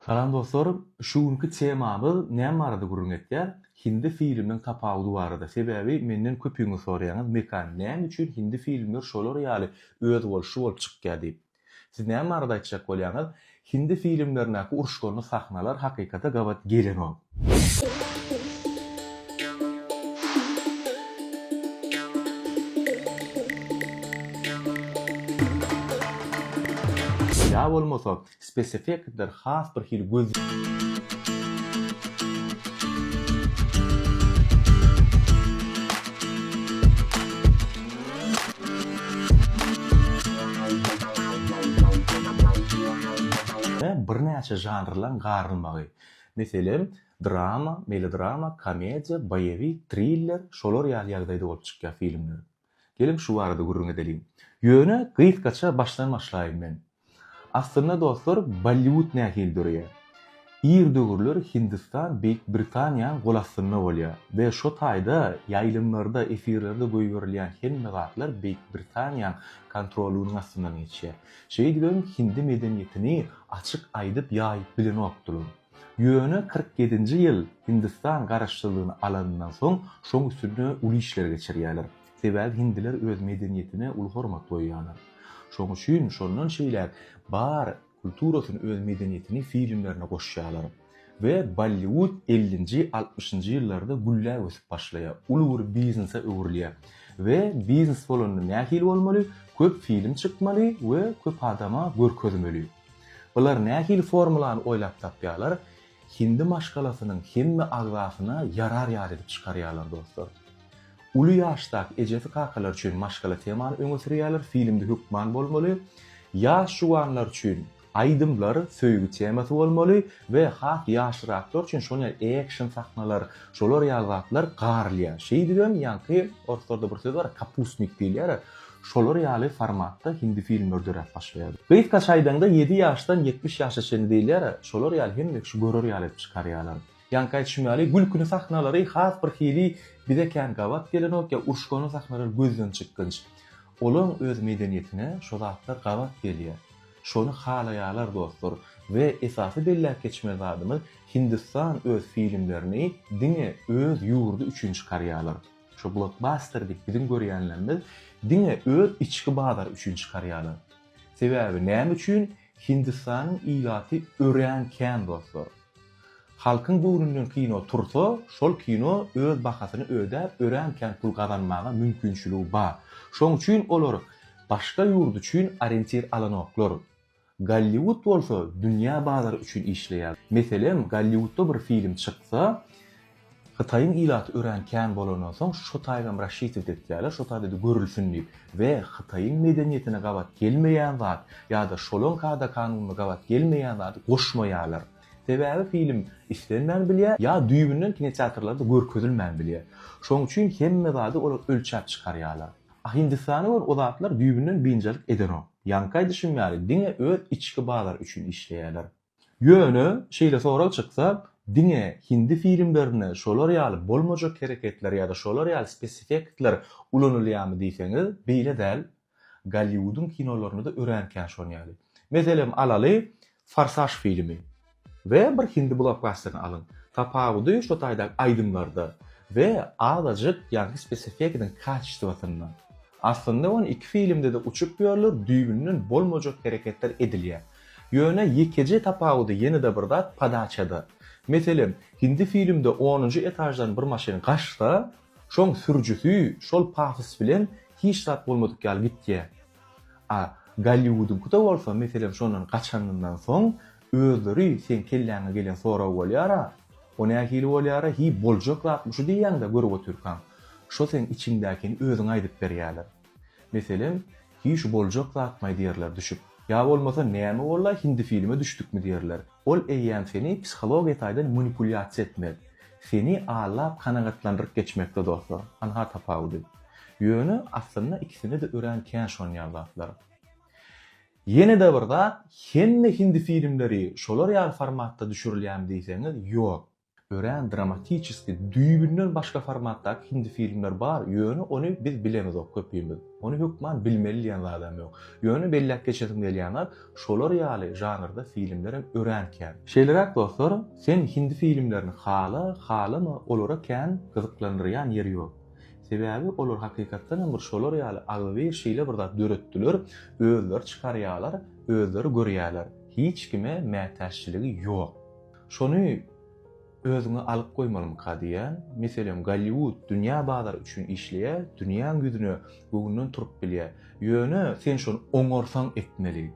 Salam dostlar! Şu günki temamyz näme barada gürrüň etýär? Hindi filminiň tapawudy barada. Sebäbi menden köpüňiz soraýaňyz, Mekan, näme üçin hindi filmler şolar ýaly özboluşly bolup çykýar diýip. Siz näme barada aýtjak bolýaňyz? Hindi filmlerindäki uruşganly sahnalar hakykata gabat gelenok. Ýa bolmasa, Speseffektler has bir hili göz. Birnäçe žanrlaryň garylmagy. Meselem, drama, melodrama, komediýa, boýewik, triller, şolar ýaly ýagdaýda bolup çykýar filmler. Geliň şu barada gürrüň edeliň. Ýöne gysgaça başdan başlaýyn men. Aslynda dostlar Bolliwud nähili döreýär? Ir döwürler Hindistan Beýik Britaniýaň gol astynda bolýar we şo taýda ýaýlymlarda, efirlerde goýberilýän hemme zatlar Beýik Britaniýaň kontrolunyň astyndan geçýär. Şeýdibem hindi medeniýetini açyk aýdyp ýaýyp bilenokdylar. Ýöne kyrk ýedinji ýyl Hindistan garaşsyzlygyny alanyndan soň şoň üstünde uly işler geçirýärler. Sebäbi hindiler öz medeniýetine uly hormat goýýarlar. Şoň üçin şondan şeýläk bar kulturasyny öz medeniýetini filmlerine goşýarlar. We Bolliwud ellinji, altmyşynjy ýyllarda gülläp ösüp başlaýar. Uly bir biznese öwrülýär. We biznes bolanda nähili bolmaly? Köp film çykmaly we köp adama görkezmeli. Bular nähili formulany oýlap tapýarlar, hindi maşgalasynyň hemme agzasyna ýarar ýaly edip çykarýarlar dostlar. Uly ýaşdaky ejesi-kakalary üçin maşgala temany öňe sürýärler, filmde hökman bolmaly. Ýaş juwanlar üçin aýdymlar, söýgi temasy bolmaly, We has ýaşraklar üçin şol ýaly action sahnalar, şolar ýaly zatlar garylýar. Şeýdibem ýaňky orslarda bir söz bar, kapustnik diýilýär. Şolar ýaly formatda hindi filmler döräp başlaýar. Gysgaça aýdaňda ýedi ýaşdan ýetmiş ýaşa çenli diýilýär, şolar ýaly hemme kişi görer ýaly edip çykarýarlar. Ýaňky aýdyşym ýaly gülküni sahnalary has bir hili bize kän gabat gelenok ýa uruşgany sahnalary gözden çykgynç. Olaň öz medeniýetine şo zatlar gabat gelýär. Şony halaýalar dostlar we esasy belläp geçmeli zadymyz Hindistan öz filmlerini diňe öz ýurdy üçin çykarýalar. Şu blokbaster diýip biziň görýänlerimiz diňe öz içki bazary üçin çykarýalar. Sebäbi näme üçin Hindistanyň ilaty örän kän dostlar. Halkyň göwnünden kino tursa, şol kino öz bahasyny ödäp, örän kän pul gazanmaga mümkinçiligi bar. Şoň üçin olar başga ýurt üçin orientir alanoklar. Golliwud bolsa dünýä bazary üçin işleýär. Meselem, Golliwudda bir film çyksa, Hytaýyň ilaty örän kän bolandan soň, şo taýgam raşitowda etýärler, şo taýda-da görülsin diýip. We Hytaýyň medeniýetine gabat gelmeýän zat ýa-da şolaň kada-kanunyna gabat gelmeýän zady goşmaýarlar. Sebäbi film islenmän bilýär, ýa düýbünden kinoteatrlarda görkezilmän bilýär. Şonuň üçin hemme zady olar ölçäp çykarýarlar. A Hindistana görä o zatlar düýbünden biynjalyk edenok. Ýaňky aýdyşym ýaly diňe öz içki bazary üçin işleýärler. Ýöne, şeýle sorag çyksa, diňe hindi filmlerinde şolar ýaly bolmajak hereketler ýa-da şolar ýaly spesifektler ulanylýarmy diýseňiz, beýle däl. Golliwudyň kinolarynda-da örän kän şon ýaly. Meselem, alaly, Forsaž filmi we bir hindi blokbasterini alyň. Tapawudy şo taýdaky aýdymlarda we azajyk ýaňky spesifekanyň kaçestwasynda. Aslynda on iki filmde-de uçup ýörler, düýbünden bolmajak hereketler edilýär. Ýöne ýekeje tapawudy ýene-de bir zat, podaçada. Meselem, hindi filmde onunjy etaždan bir maşyn gaçsa, Şoň sürüjisi şol pafos bilen hiç zat bolmadyk ýaly gitýär. A Golliwudyňkyda bolsa, meselem, şondan gaçanyňdan soň, özleri seň kelläňe gelen sorag bolýar-a, O nähili bolýar-a, hiý, boljak zatmy şu diýýäň-dä, görüp otyrkaň. Şo seň içiňdäkini özüňe aýdyp berýärler. Meselem, Hiý şu boljak zatmaý diýerler düşüp. Ýa bolmasa Näme bollaý hindi filme düşdükmi diýerler. Ol eýýäm seni psihologiýa taýdan manipulýasiýa etmek. Seni allap kanagatlandyryp geçmekde dostlar. Anha tapawudy. Ýöne aslynda ikisine-de örän kän şonýal zatlar. Ýene-de bir zat, hemme hindi filmleri şolar ýaly formatda düşürilýärmi diýseňiz, ýok. Örän dramatiçeski, düýbünden başga formatdaky hindi filmler bar, ýöne ony biz bilemizok köpimiz. Ony hökman bilmeli diýen zadam ýok. Ýöne belläp geçesim gelýän zat, şolar ýaly žanrda filmlerem örän kän. Şeýleräk dostlar, sen hindi filmlerini hala, halama olara kän gyzyklandyrýan ýeri ýok. Sebäbi olar hakykatdanam bir şolar ýaly agzybir şeýle bir zat döretdiler, özleri çykarýalar, özleri görýäler. Hiç kime mätäççiligi ýok. Şony özüňe alyp goýmalymyka diýýän, meselem, Golliwud dünýä bazary üçin işleýär, dünýäň ýüzüne göwünden turup bilýär. Ýöne sen şony oňarsaň etmeli.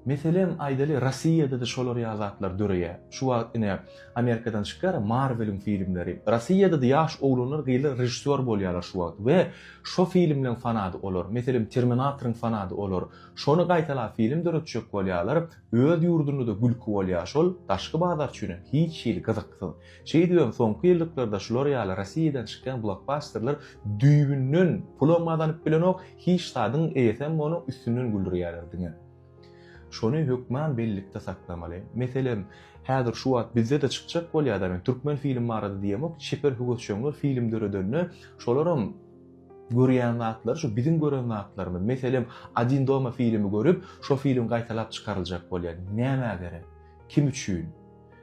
Meselem, aýdaly, Rossiýada-da şolar ýaly zatlar döreýär. Şu wagt ine, Amerikadan çykýar-a Marweliň filmleri. Rossiýada-da ýaş oglanlar, gyzlar režissýor bolýarlar şu wagt we şo filmleň fanady olar. Meselem, Terminatoryň fanady olar. Şony gaýtalap film döretjek bolýarlar. Öz ýurdunda-da gülki bolýar şol, daşky bazar üçinem hiç hili gyzyksyz. Şeýdibem soňky ýyllyklarda şular ýaly Rossiýadan çykýan blokbasterler düýbünden pulam gazanyp bilenok, hiç zadyň eýesem bolanok, üstünden güldürýärler diňe. Şony hökman bellikde saklamaly. Meselem, häzir şu wagt bizde-de çykjak bolýar-da, men türkmen film barada diýemok, çeper höwesjeňler film döredende şolaram, Görýän zatlary şu biziň gören zatlarymyz. Meselem, Odin doma filmi görüp, şo film gaýtalap çykaryljak bolýar. Nämä gerek? Kim üçin?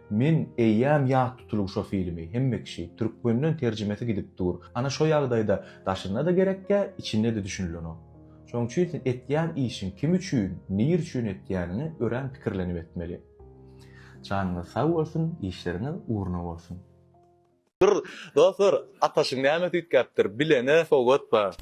Men eýýäm ýat tutulyň şo filmi, hemme kişi, türkmenden terjimesi gidip dur. Ana şo ýagdaýda daşynda-da gerekkä, içinde-de düşünilenok. Şonuň üçin sen etýän işiň kim üçin, nir üçin etýäniňi örän pikirlenip etmeli. Janyňyz sag bolsun, işleriňiz ugruna bolsun! Dur dostlar ataşyň näme süýtgäpdir bilene sowgat bar.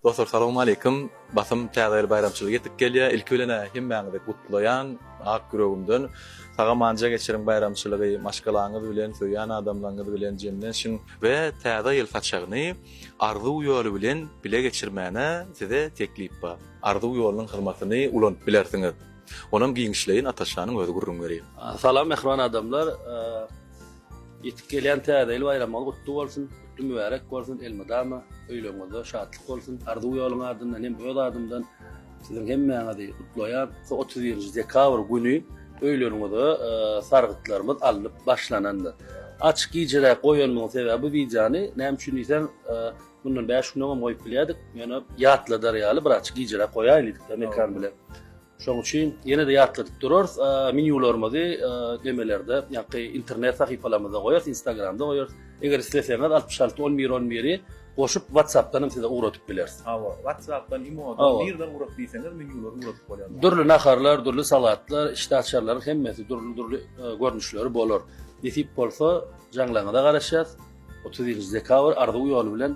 Dostlar Salowm Aleýkum Basym Täze ýyl baýramçylygy ýetip gelýär ilki bilen-ä hemmäňizi gutlaýan ak ýüregimden Sagamanja geçiriň baýramçylygy maşgalaňyz bilen söýýän adamlaňyz bilen jemlenşiň we Täze ýyl saçagyny Arzuw ýoly bilen bile geçirmäne size teklip bar Arzuw ýolunyň hyzmatyny ulanyp bilersiňiz onam giňişleýin Ataşanyň özi gürrüň berýär. Salam mähriban adamlar. Ýetip gelýän Täze ýyl baýramyňyz gutly bolsun, gutly mübärek bolsun elmydama öýleriňizde şatlyk bolsun Arzuw ýoluň adyndan hem öz adymdan siziň hemmäňizi gutlaýan şu otuz birinji dekabr güni öýleriňize sargytlarymyz alnyp başlanandyr açyk gijeräk goýanymyň sebäbi bu wideony näme üçin diýseň mundan bäş gün öňem goýup bilýärdik ýöne ýatladar ýaly bir açyk gijeräk goýaýyn diýdik mekan bilen Şonuň üçin ýene-de ýatladyp durarys, menýularymyzy demelerde, ýa-da internet sahypalarymyzda goýarys, Instagramda goýarys. Eger isleseňiz, altmyş alty, on bir, on biri goşup, WhatsApp-dan hem size ugradyp bileris. Hawa, WhatsApp-dan, imo-dan, nireden ugrat diýseňiz, menýulary ugradyp bolýar. Dürli naharlar, dürli salatlar, işdäaçarlaryň hemmesi dürli-dürli görnüşleri bolar. Nesip bolsa, jaňlaryňyza garaşýarys. Otuz birinji dekabr arzuw ýoly bilen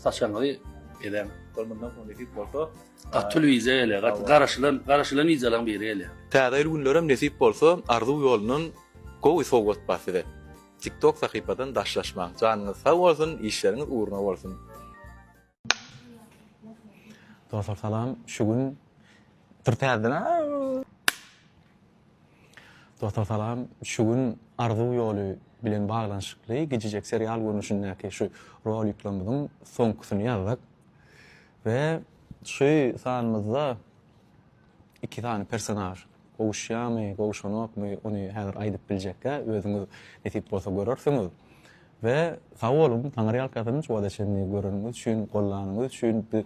saçagyňyzy edäň. Mundan soň nesip bolsa, Gaty uly wiza ele, gaty garaşylan, garaşylan wizalaň biri ele. Täze ýyl günlerem nesip bolsa Arzuw ýolundan gowy sowgat bar size. Tiktok sahypadan daşlaşmaň. Janyňyz sag bolsun, işleriňiz ugruna bolsun. Dostlar salam şu gün Dur täzeden Dostlar salam şu gün Arzuw ýoly bilen baglanyşykly gijijek serial görnüşindäki şu roliklerimiziň soňkusyny ýazdyk. We şu sanymyzda iki sany personaž gowuşýamy, gowuşanokmy ony häzir aýdyp biljekgä özüňiz nesip bolsa görersiňiz. We sag boluň, Taňry ýalkasyn şu wagta çenli göreniňiz üçin, gollanyňyz üçin. Biz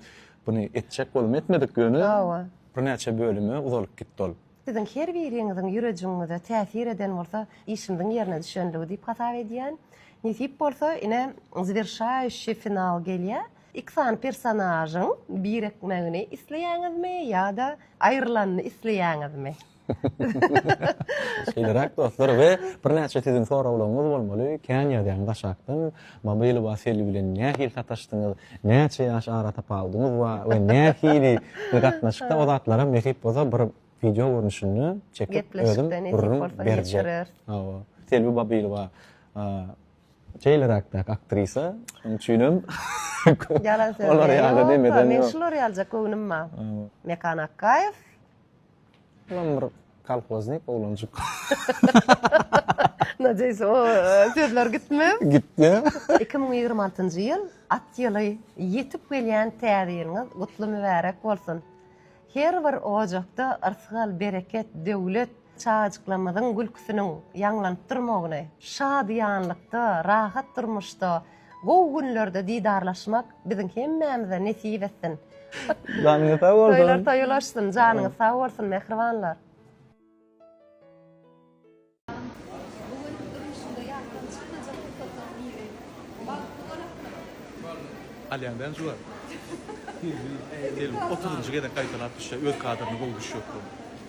buny etjek bolup etmedik ýöne Hawa. birnäçe bölüme uzalyp gitdi ol. Siziň her biriňiziň ýürejiňize täsir eden bolsa işimiziň ýerine düşendigi diýip hasap edýän. Nesip bolsa ine zwirşaýuşi final gelýä. Iki sany personažyň birikmegini isleýäňizmi ýa-da aýrylanyny isleýäňizmi? Şeýleräk dostlar we birnäçe siziň soraglaryňyz bolmaly, kän ýazýaňyz aşakdan, Mamuly Wasilý bilen nähili sataşdyňyz, näçe ýaş aratapawudyňyz bar we nähili bir gatnaşykda o zatlaram nesip bolsa bir wideo görnüşinde çekip özüm gürrüň berjek. Hawa. Selbi Babylowa Şeýleräkdäki aktrisa, şonuň üçinem Ýalan söz. Olar ýaly demeden. Men şular ýalyja göwnüm bar. Mekan Akgaýew. Olam bir kolhoznik oglanjyk. Nadeýs o sözler gitme. Gitdi. 2026-njy ýyl at ýyly ýetip gelýän täze ýylyňyz gutly mübärek bolsun. Her bir ojakda yrsgal, bereket, döwlet, Çagajyklarymyzyň gülküsiniň ýaňlanyp durmagyny, şadyýanlykda, rahat durmuşda, gowy günlerde didarlaşmak biziň hemmämize nesip etsin! Janyňyz sag bolsun! Toýlar toý ulaşsyn! Janyňyz sag bolsun, mähribanlar! Bu gün durmuşyňda ýatdan çykmajak pursatlaryň biri. Bagtly bolapdyr. Alýaňdan juwap. Otuzynjy gezek gaýtalap düşýär, öz kadryny gowy düşýär.